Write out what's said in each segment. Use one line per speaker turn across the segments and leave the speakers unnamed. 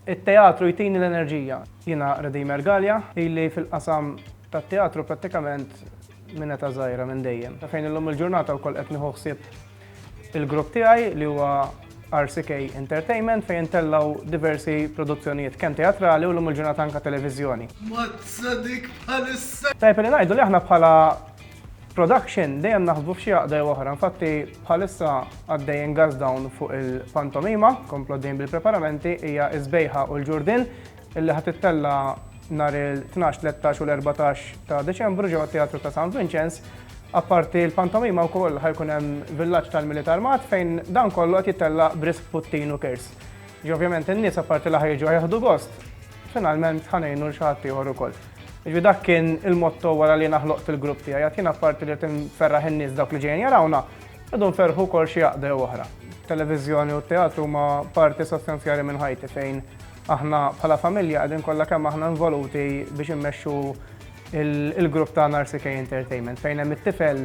It-teatru jtini l-enerġija. Jiena Redeemer Galea, ili fil-qasam tat-teatru prattikament minn età żgħira, minn dejjem. Fejn illum il-ġurnata wkoll qed nieħu ħsieb il-grupp tiegħi li huwa RCK Entertainment fejn intellgħu diversi produzzjonijiet kemm teatrali u llum il-ġurnata anke televiżjoni. Mazza dik
bħalissa! Tajjeb li ngħidu li aħna
bħala Production dejjem naħsbu f'xi għaqda jew oħra, infatti bħalissa għaddejjin gas down fuq il-pantomima, komplu għaddejjin bil-preparamenti, hija s-Sbejħa u l-Ġurdien, illi ħa tittella' nhar il-tnax, tlettax u l-erbatax ta' Deċembru ġewwa t-Teatru ta' San Vinċenz. Apparti l-pantomima wkoll ħa jkun hemm Villaġġ tal-Milied Armat fejn dan kollu qed jittella' b'risq puttin u kirs. Jiġifieri ovvjament in-nies apparti li ħa jiġu ħa jieħdu gost, finalment ħa ngħinu 'l xi ħadd ieħor ukoll. Jiġifieri dak kien il-motto wara li jiena ħloqt il-grupp tiegħi, għad jiena apparti li rrid inferraħ in-nies dawk li ġejjin jarawna, rridu nferrħu wkoll xi għaqda jew oħra. It-televiżjoni u t-teatru huma parti sostanzjali minn ħajti fejn aħna bħala familja qegħdin kollha kemm aħna involuti biex immexxu il-grupp tagħna RCK Entertainment fejn hemm it-tifel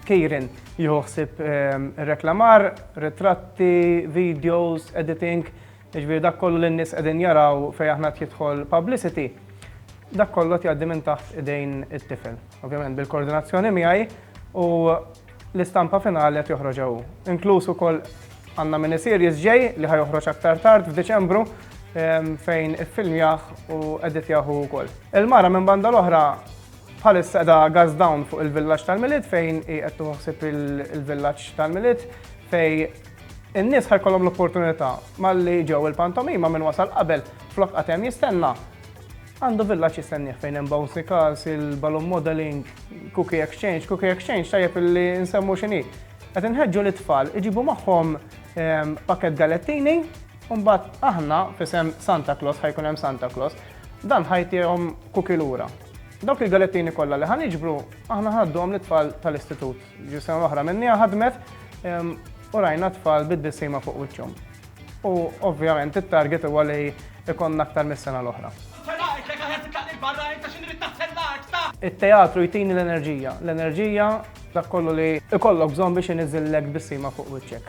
Kieran jieħu ħsieb ir-reklamar, ritratti, videos, editing, jiġifieri dak kollu li n-nies qegħdin jaraw fejn aħna qed jidħol publicity, dak kollu qed jgħaddi minn taħt idejn it-tifel. Ovvjament bil-koordinazzjoni miegħi u l-istampa finali qed joħroġha hu. Inkluż ukoll għandna miniseries ġej li ħajoħroġ aktar tard f'Diċembru fejn iffilmjah u editjah hu wkoll. Il-mara minn banda l-oħra Bħalissa qiegħda gas down fuq il-villaġġ tal-Milied fejn hi qed tieħu ħsieb il-villaġġ tal-Milied fej in-nies ħa jkollhom l-opportunità malli ġew il-pantomima minn wasal qabel flok qatt hemm jistenna għandu villaġġ jistennieh fejn hemm bouncy cars, il-balloon modeling, cookie exchange, cookie exchange tajjeb illi nsemmu x'inhi. Qed inħeġġu lit-tfal iġibu magħhom ehm, pakket galettini U mbagħad aħna f'isem Santa Claus ħajkun hemm Santa Claus, dan ħajtihom kuki lura. Dawk il-galettini kollha li ħaniġbru, aħna ħadduhom lit-tfal tal-istitut. Ġi sena l-oħra minnija ħadmet ehm, u rajna tfal bid-dissima fuq wiċċhom. U ovvjament it-target huwa li ikonna aktar mis-sena l-oħra. It-teatru jtini l-enerġija, l-enerġija dak kollu li ikollok bżonn biex iniżillek bissima fuq wiċċek.